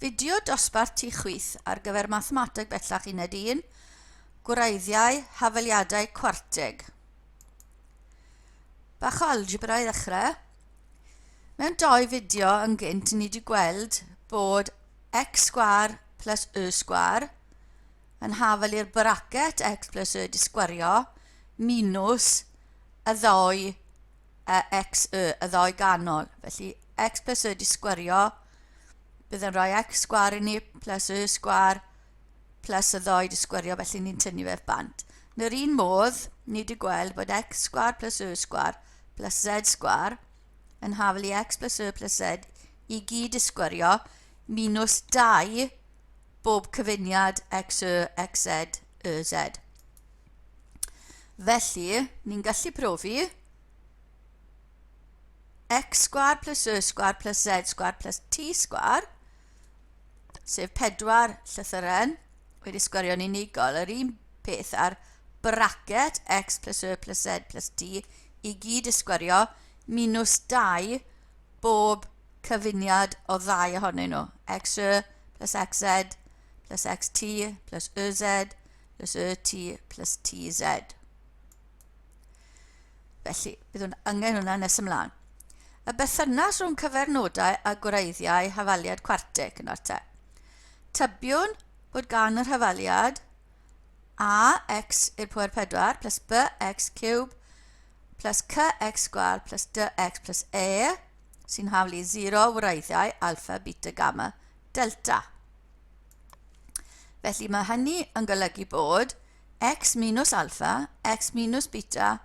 Fideo dosbarth ti chwith ar gyfer Mathemateg Bellach Uned 1, Gwreiddiau, Hafaliadau Cwarteg. Bach o algebra i ddechrau. Mewn doi fideo yn gynt ni wedi gweld bod x sgwar plus y sgwar yn hafal i'r bracet x plus y disgwario minus y ddou a x y, y ddou ganol. Felly x plus y di sgwario, bydd yn rhoi x sgwar i ni plus y sgwar plus y ddou di sgwario, felly ni'n tynnu fe bant. Yn yr un modd, ni wedi gweld bod x sgwar plus y sgwar plus z sgwar yn hafel i x plus y plus z i gyd i sgwario minus 2 bob cyfuniad x y, x z, y z. Felly, ni'n gallu profi x sgwar plus y sgwar plus z sgwar plus t sgwar, sef pedwar llythyren wedi sgwario'n unigol, yr un peth ar bracket x plus y plus z plus t i gyd ysgwario minus 2 bob cyfuniad o ddau ohonyn nhw, xy plus xz plus xt plus yz This y t plus tz. Felly, byddwn angen hwnna nes ymlaen. Y bethynas rhwng cyfernodau a gwreiddiau hafaliad cwarteg yn orte. Tybiwn bod gan yr hafaliad ax i'r pwer 4 plus bx cube plus cx sgwar plus dx plus e sy'n haflu 0 wreiddiau alfa, beta, gamma, delta. Felly mae hynny yn golygu bod x minus alfa, x minus beta,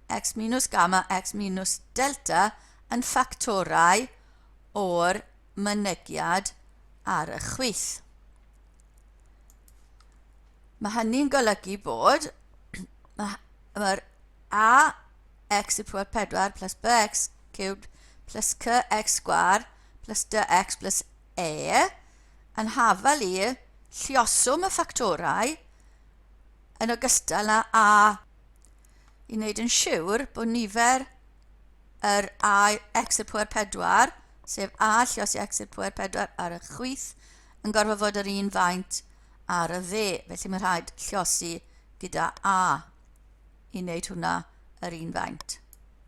x minus gamma, x minus delta yn ffactorau o'r mynegiad ar y chwith. Mae hynny'n golygu bod mae'r a x y pwer 4 plus bx cubed plus cx sgwar plus dx plus e yn hafal i lluoswm y ffactorau yn ogystal â a i wneud yn siwr bod nifer yr a x i'r pwer 4, sef a lluos i x i'r pwer 4 ar y chwith, yn gorfod fod yr un faint ar y dde. Felly mae rhaid lluosi gyda a i wneud hwnna yr un faint.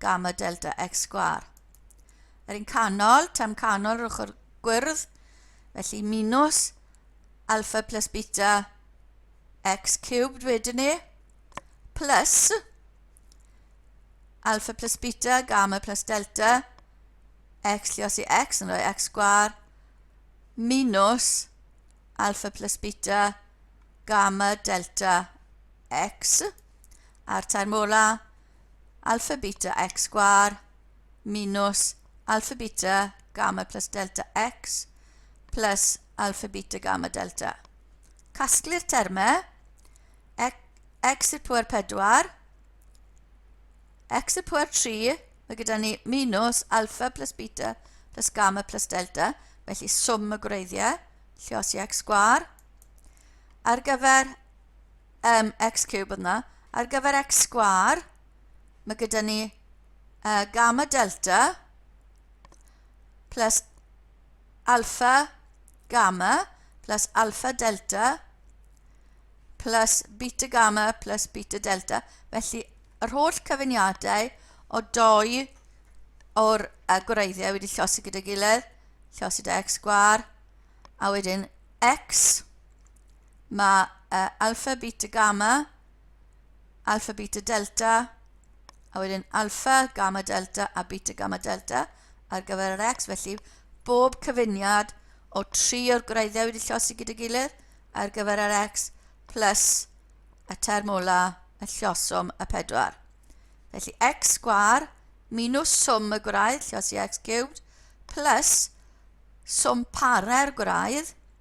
gamma delta x sgwar. Yr un canol, term canol yr ochr gwyrdd, felly minus alpha plus beta x cubed wedyn ni, plus alpha plus beta, gamma plus delta, x llios i x yn rhoi x sgwar, minus alpha plus beta, gamma delta x, a'r term olaf, alpha beta x sgwar minus alpha beta gamma plus delta x plus alpha beta gamma delta. Casglu'r termau x i'r pwer 4, x i'r pwer 3, mae gyda ni minus alpha plus beta plus gamma plus delta, felly swm y gwreiddiau, lle os i x sgwar, ar gyfer um, x cube yna. Ar gyfer x sgwar, mae gyda ni uh, gamma delta plus alpha gamma plus alpha delta plus beta gamma plus beta delta. Felly, yr holl cyfuniadau o doi o'r uh, gwreiddiau wedi llosi gyda gilydd, llosi da x gwar, a wedyn x Mae uh, alpha, beta, gamma, alpha, beta, delta, a wedyn alpha, gamma, delta a beta, gamma, delta ar gyfer yr x, felly bob cyfuniad o tri o'r gwreiddiau wedi llosi gyda gilydd ar gyfer yr x plus y term ola y llosom y pedwar. Felly x sgwar minus swm y gwraidd, llosi x cubed, plus swm para'r gwraidd,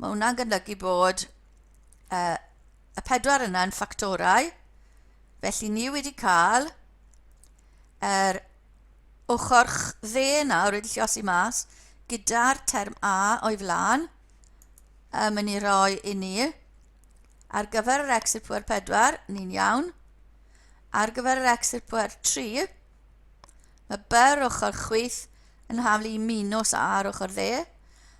Mae hwnna'n golygu bod uh, y pedwar yna yn ffactorau, felly ni wedi cael yr er ochr dde nawr wedi llosi mas gyda'r term A o'i flaen yn mynd i roi i ni ar gyfer yr exit pwer 4 ni'n iawn ar gyfer yr exit pwer 3 mae byr ochr chwyth yn haflu i minws A ar ochr dde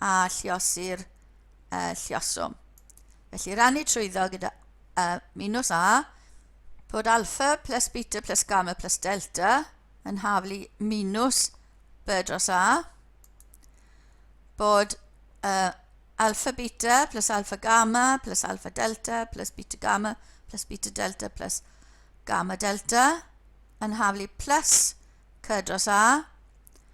a lluosi'r uh, lluoswm. Felly rannu trwyddo gyda uh, minus a, bod alfa plus beta plus gamma plus delta yn haflu minus b dros a, bod uh, alfa beta plus alfa gamma plus alfa delta plus beta gamma plus beta delta plus gamma delta yn haflu plus c dros a,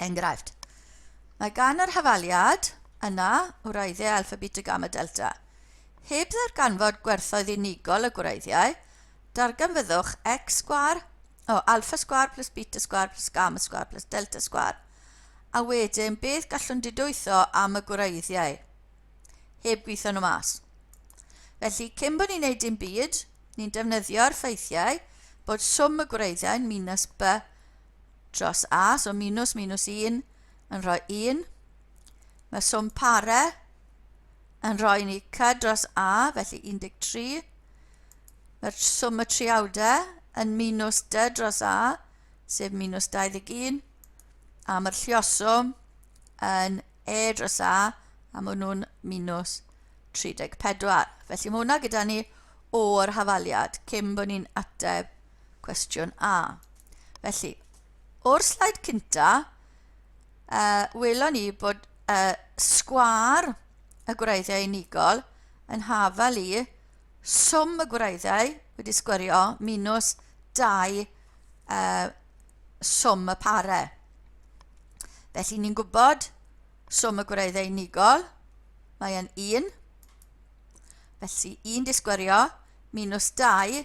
Enghraifft, mae gan yr hafaliad yna wreiddiau alfa, beta, gamma, delta. Heb ddarganfod gwerthoedd unigol y gwreiddiau, darganfyddwch x sgwar o alfa sgwar plus beta sgwar plus gamma sgwar plus delta sgwar, a wedyn beth gallwn didwytho am y gwreiddiau, heb gweithio nhw mas. Felly, cyn bod ni'n neud dim byd, ni'n defnyddio'r ffeithiau bod swm y gwreiddiau'n minus b dros a, so minws minws 1 yn rhoi 1. Mae swm pare yn rhoi ni c dros a, felly 13. Mae'r swm y triawdau yn minws d dros a, sef minws 21. A mae'r llioswm yn e dros a, a maen nhw'n minws 34. Felly mae hwnna gyda ni o'r hafaliad cyn bod ni'n ateb cwestiwn A. Felly, o'r slaid cynta, uh, welon ni bod uh, sgwar y gwreiddiau unigol yn hafal i swm y gwreiddiau wedi sgwario minus 2 uh, swm y pare. Felly ni'n gwybod swm y gwreiddiau unigol, mae'n 1. Felly 1 disgwario minus 2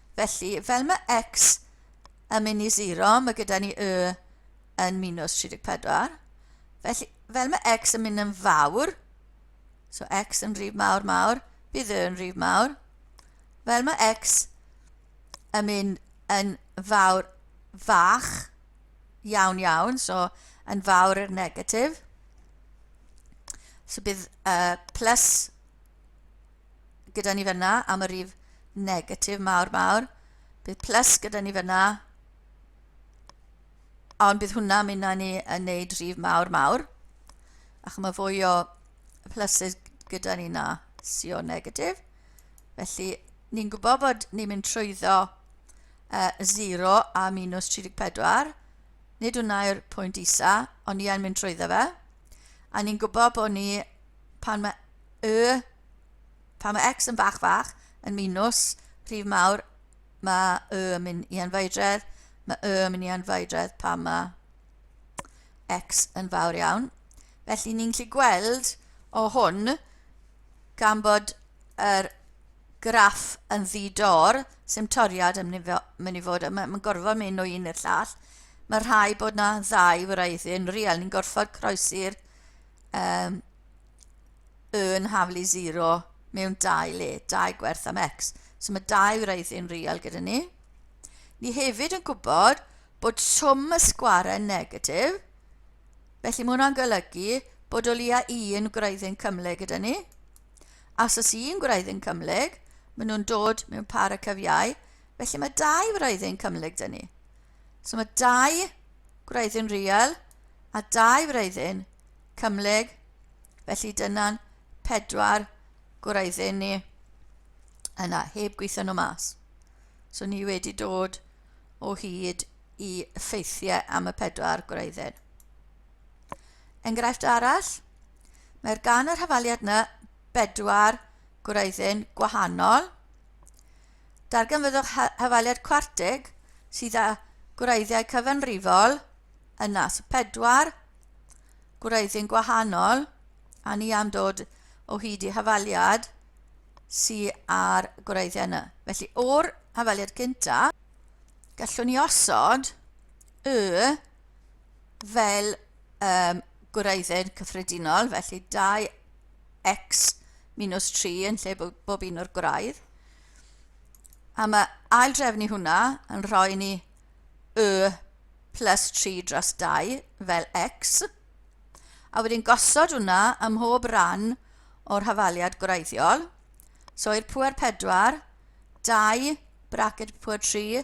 Felly, fel mae x yn mynd i 0, mae gyda ni y yn minus 34. Felly, fel mae x yn mynd yn fawr, so x yn rhif mawr mawr, bydd y yn rhif mawr. Fel mae x yn mynd yn fawr fach iawn iawn, so yn fawr i'r negatif. So bydd uh, plus gyda ni fyna am y rif negatif mawr mawr. Bydd plus gyda ni fyna. Ond bydd hwnna mynd ni yn neud rif mawr mawr. Ac mae fwy o pluses gyda ni na si o negatif. Felly, ni'n gwybod bod ni'n mynd trwyddo uh, 0 a minus 34. Nid hwnna yw'r pwynt isa, ond ni yn mynd trwyddo fe. A ni'n gwybod bod ni, pan mae y, pan mae x yn fach fach, yn minus rhif mawr, mae y yn mynd i anfaedredd, mae y yn mynd i anfaedredd pan mae x yn fawr iawn. Felly ni'n gallu gweld o hwn gan bod yr graff yn ddi-dor, sy'm toriad yn mynd mynd i fod, mae'n ma gorfod mynd o un i'r llall. Mae rhai bod na ddau wraiddyn real, ni'n gorfod croesi'r um, yn haflu 0 mewn dau le, dau gwerth am x. So mae dau wraiddyn real gyda ni. Ni hefyd yn gwybod bod swm y sgwarau negatif, felly mae hwnna'n golygu bod o leia un gwraiddyn cymle gyda ni. Os oes un gwreiddyn cymhlyg, maen nhw'n dod mewn par y cyfiau, felly mae dau wreiddyn cymhlyg dyn ni. So mae dau gwreiddyn real a dau wreiddyn cymhlyg, felly dyna'n pedwar gwreiddyn ni yna, heb gweithio nhw mas. So ni wedi dod o hyd i ffeithiau am y pedwar gwreiddyn. Enghraifft arall, Mae'r gan yr hafaliad yna bedwar gwreiddyn gwahanol. Darganfyddwch hafaliad cwartig sydd â gwreiddiau cyfanrifol yna, so pedwar gwreiddyn gwahanol, a ni am dod o hyd i hafaliad sydd ar gwreiddiau yna. Felly, o'r hafaliad cynta, gallwn ni osod y fel um, gwraiddyn cyffredinol, felly 2x minus 3 yn lle bob, bob un o'r gwraidd. A mae ail drefnu hwnna yn rhoi ni y plus 3 dros 2 fel x. A wedyn gosod hwnna ym mhob rhan o'r hafaliad gwreiddiol. So i'r pwer 4, 2 bracet pwer 3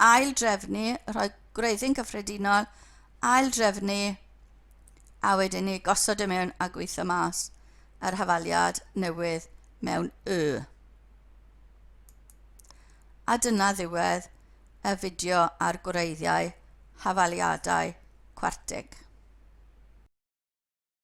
ail-drefnu, rhoi gwreiddyn cyffredinol, ail-drefnu, a wedyn ni gosod y e mewn a gweithio mas yr hafaliad newydd mewn y. A dyna ddiwedd y fideo ar gwreiddiau hafaliadau cwartig.